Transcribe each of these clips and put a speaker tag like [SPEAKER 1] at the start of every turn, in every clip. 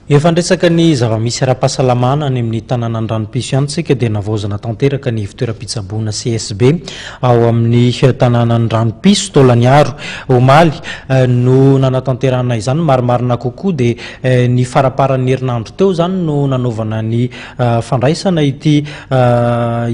[SPEAKER 1] Efa niresaka ny zava-misy ara-pahasalamana any amin'ny tanànan'Ranompiso ihany isika dia navaozana tanteraka ny fitoeram-pitsaboana CSB ao amin'ny tanànan'i Ranompiso taolan'Iaro. Omaly no nanatanterahana izany, marimarina kokoa dia ny faramparan'ny herinandro teo izany no nanaovana ny fandraisana ity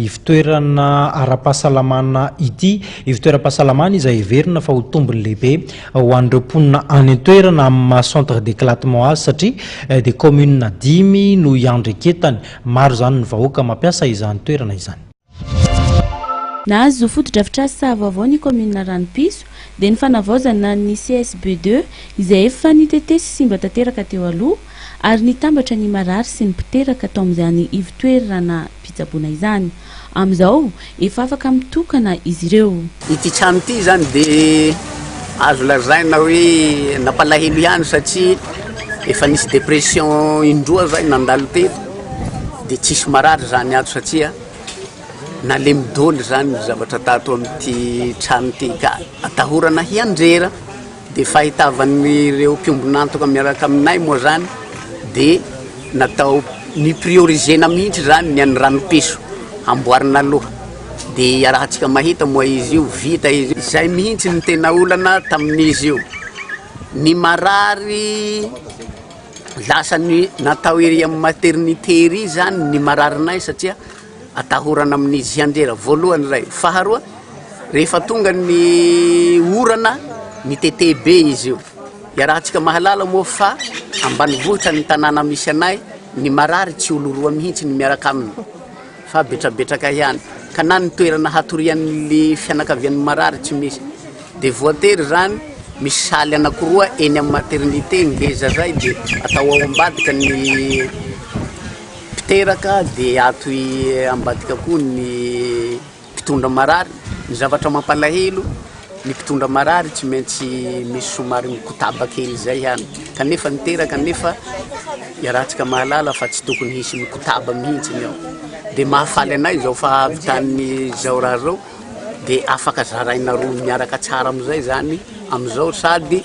[SPEAKER 1] ivontoerana ara-pahasalamana ity, ivontoeram-pahasalamana izay heverina fa ho tombony lehibe. ho an'ireo mponina any an-toerana amin'ny maha centre d'éclatement azy satria dia commune dimy no iandreketany. Maro izany ny vahoaka mampiasa izany toerana izany. Nahazo
[SPEAKER 2] fotodrafitrasa vaovao ny kaominina Ranopiso dia ny fanavaozana ny CSB deux izay efa nitete sy simba tanteraka teo aloha ary nitambatra ny marary sy ny mpiteraka tao amin'izany ivotoeranam-pitsaboana izany. Amin'izao, efa afaka mitokana izy ireo. Ity trano ity
[SPEAKER 3] izany dia azo lazaina hoe nampalahelo ihany satria efa nisy dépression indroa izay nandalo teto dia tsisy marary izany ato satria nalemy doly izany ny zavatra tato amin'ity trano ity ka atahorana hianjera. Dia fahitavan'ireo mpiombon'antoka miaraka aminay moa izany dia natao ni-prioriser-na mihitsy izany ny an'ny ranopiso hamboarina aloha. Dia iarahantsika mahita moa izy io vita izy io. Izay mihitsy no tena olana tamin'izy io. Ny marary lasa ny natao ery amin'ny maternité ery izany ny mararinay satria. Atahorana amin'izy hianjera voalohany ilay faharoa, rehefa tonga ny orana mitete be izy io. Iarahantsika mahalala moa fa ambanivohitra ny tanàna misy anay, ny marary tsy olo roa mihitsy ny miaraka aminy fa betrabetraka ihany, ka na ny toerana hatorian'ny fianakavian'ny marary tsy misy. Dia voatery izany misy saly anankiroa eny amin'ny maternité, ngeza izay dia atao ao ambadika ny. mpiteraka dia ato ambadika koa ny mpitondra marary, ny zavatra mampalahelo ny mpitondra marary tsy maintsy misy somary mikotaba kely izay ihany kanefa ny teraka nefa iarahantsika mahalala fa tsy tokony hisy mikotaba mihitsy ny ao dia mahafaly anay izao fa avy tany zao raha zao dia afaka zaraina roa miaraka tsara amizay zany amizao sady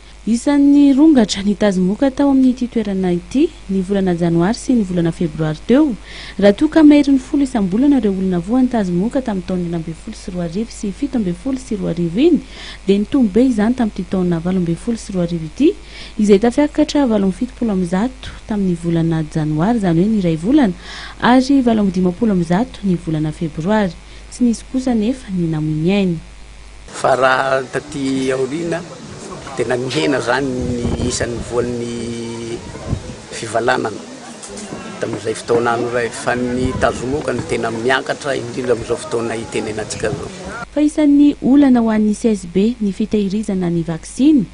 [SPEAKER 2] Isan'ny rongatra nitazimoka tao amin'ity toerana ity ny volana janoary sy ny volana febroary teo, raha toa ka maherin'ny folo isam-bolana ireo olona voantazimoka tamin'ny taona enina ambin'ny folo sy roa arivo sy fito ambin'ny folo sy roa arivo iny, dia nitombo be izany tamin'ity taona valo ambin'ny folo sy roa arivo ity, izay tafiakatra valo amby fitopolo amby zato tamin'ny volana janoary, izany hoe ny iray volana, ary valo amby dimampolo amby zato ny volana febroary. Tsy nisy kosa anefa ny namoy ny ainy. Fa raha
[SPEAKER 3] taty aoriana, tena nihena izany ny isan'ny voan'ny fivalanana tamin'izay fotoana any iray, fa ny tazomoka no tena miakatra, indrindra amin'izao fotoana itenenantsika izao. Fa isan'ny
[SPEAKER 2] olana ho an'ny CSB ny fitahirizana ny vaksiny.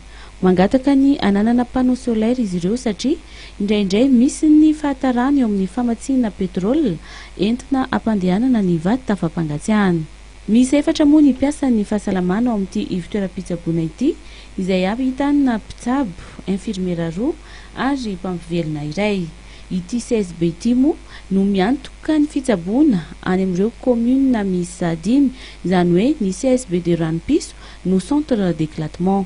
[SPEAKER 2] Mangataka ny hananana panneau solaire izy ireo satria indraindray misy ny fahatarana eo amin'ny famatsiana petrole entina hampandehanana ny vata fampangatsiahana. Miisa efatra moa ny mpiasan' ny fahasalamana ao amin' ity ivontoeram-pitsaboana ity, izay ahitana mpitsabo, infirmiera roa ary mpampivelona iray. Ity CSB ity moa no miantoka ny fitsaboana any amin' ireo kaominina miisa dimy, izany hoe ny CSB de Ranom-piso no centre d' éclatement.